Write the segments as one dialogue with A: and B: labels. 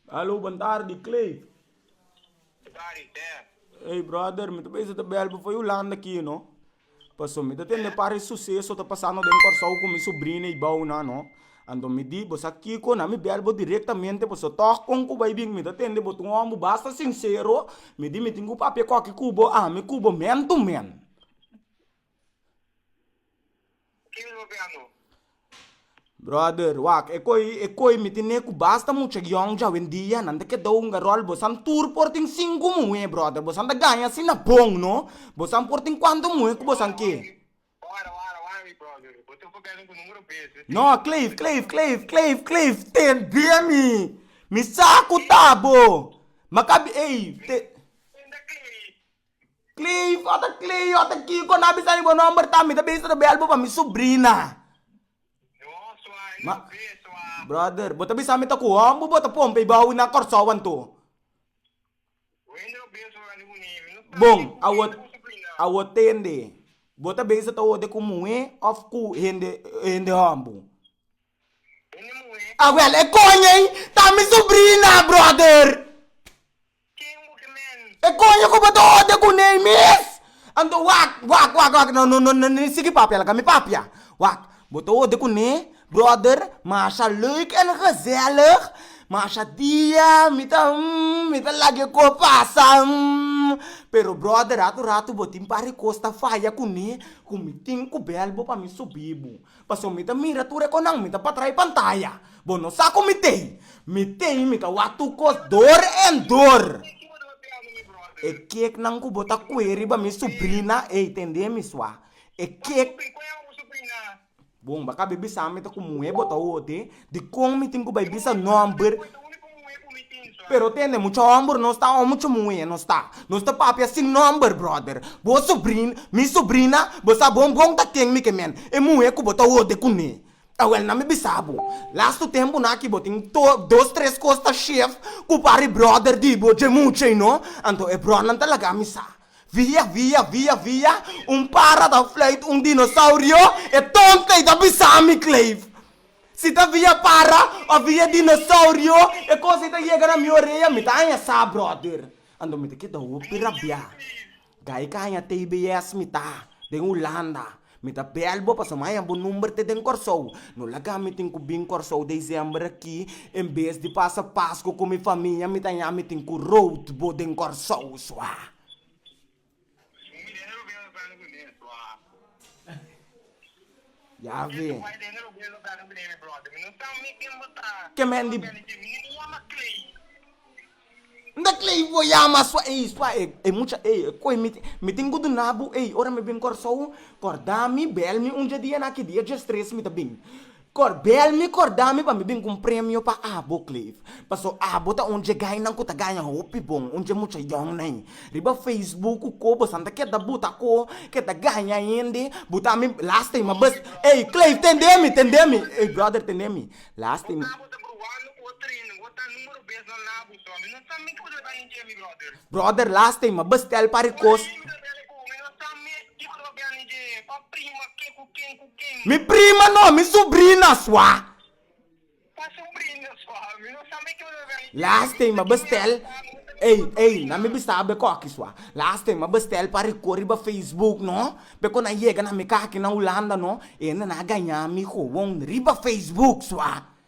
A: Hallo bon tardi Clay. Dari der. Hey brother, mi ta bese ta bel bo for Yolanda aqui, no? Paso mi ta tende pare suceso ta pasando den Corsou con mi sobrina y bou nan, no? Anto mi di, bo sa kiko na mi bel bo directamente paso toch con cu bay bin mi ta tende bo ta un hombre basta sincero, mi di mi tin cu papia coki cu bo ami cu bo man to man. Ken lo be anu? Brother, wak, e koi, e koi mi tin e ku basta mucha yòng jawendia, nan ta keda hunga ròl, bosan tur por tin sinku muhé, brother, bosan ta gaña asina bon, no? Bosan por tin kuantu muhé ku bosan ke. Wara, wara, wara, mi brother, bo tin pabèlnan ku numero bes, mi tin No, Cliff, Cliff, Cliff, Cliff, Cliff, tende mi, mi sa ku ta bo, maka bi, ey, te. Ken ta Cliff? Cleo, ata Cleo, ata Kiko na bisa di bo nomber ta, mi ta bisa ta bel bo pa mi subrina. Ma, brother, bo ta bisa mi ta ku hòmber bo ta pompe bou na Kòrsou anto. Bon, awo, awo tende, bo ta bisa ta hoorde ku muhé òf ku hende, hende hòmber? Awèl, e koño ei ta mi subrina, brother! Ken bo ke men? E koño ku bo ta ode ku nei mes? Anto wak, wak, wak, wak, no, no, no, no ni sigui papia laga mi papia. Wak, bo ta ode ku nei bròder masha leuk en gezellig, masha dia mi ta humm mi ta lag'e kos pasa humm, pero bròder ratu ratu bo tin par di kos ta faya ku nei ku mi tin ku bèl bo pa mi subi bo. Paso mi ta mira tur e konan mi ta pa trae pantaya. Bo no sa ku mi tei. Mi tei mi ta wak tur kos dor en dor. E keknan ku bo ta kue riba mi subrina, ey tende mi sua. E kek. Bon, bo a kabe bisa mi ta ku muhe bo ta hote. Dikon mi tin ku bai bisa nòmber? Pero tende mucha hòmber nos ta o mucha muhé nos ta. Nos ta papia sin nòmber, bròder. Bo subrin, mi subrina, bo sa bon bon ta ken mi ke men, e muhé ku bo ta hode kuné. Awèl na mi bisa bo, lastu tempunan aki bo tin to dos tres kos ta shef ku para e bròder di bo dje mucha ei no. Anto e brònan ta laga mi sa. Via, via, via, via, un para ta fluit un dinosaurio, e tònta ei ta bisa mi, Cleve. Si ta via para o via dinosaurio e cos ei ta yega na mi orea mi ta haña sa brother ando mi ta keda hopi rabia gai caña tbs mi ta den hulanda mi ta bel bo pasobra mi haña bo number te den corsou no laga mi tin cu bin corsou december aki en bes di pasa pascu cu mi famia mi ta haña mi tin cu road bo den corsou sua. Yave. Ken men di. Nda Clay bo yama sua ey sua e e mucha ey e koe mi mi tin ku duna bo ey ora mi bin Kòrsou kòrda mi bèl mi un dje dia na ki dia dje stres mi ta bin. Corbel mi corda mi pa mi bin cu un premio pa abo Cliff paso abo ta un dje gainan cu ta gaña hopi bon un dje mucha young na i riba facebook cu co bosan ta keda buta co keda gaña hende buta mi lastima bes ey Cliff tende mi tende mi ey brother tende mi lastima. Abo ta bruando cu bo training bo ta numero bes no na abuso ami no sa mi cu bo ta bay un dje mi brother. Brother lastima bes tel pari cos. Ey brother dele cu mi no sa mi e ki bo ta bay un dje pa prima ke cu ken cu. Mi prima no, mi subrina sua. Pa subrina sua, mi no sa meke una rei. Lastima bestel, ey, ey, nan mi bisa be koki sua. Lastima bestel pa riko riba Facebook no, be ku nan yega na mi kaki na Hulanda no, e na na gaña mi gowon riba Facebook sua.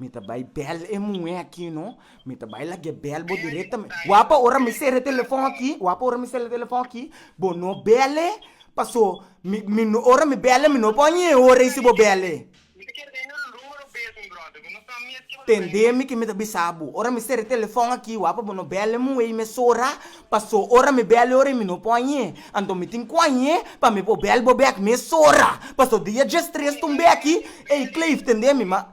A: Mi ta bai bèl e muhé aki no, mi ta bai lag'é bèl bo direktamente. Wap'a ora mi sera e telefòn aki, wap'a ora mi sera e telefòn aki, bo no bèl'é, pasó mi, mi no, ora mi bèl'é mi no por ñe e ora ei si bo bèl'é. Mi ta kere tene un numero bes, mi bròder, mi no sa mes ke bo ta bai. Tend'é mi ke mi ta bisa bo, ora mi sera e telefòn aki, wap'a bo no bèl'é muhé ei mes ora, pasó ora mi bèl'é e ora ei mi no por ñe. Anto mi tin ku a ñe pa mi por bèl bo bèk mes ora, pasó dia djes tres t'un bèki, ey Cleif, tend'é mi, ma.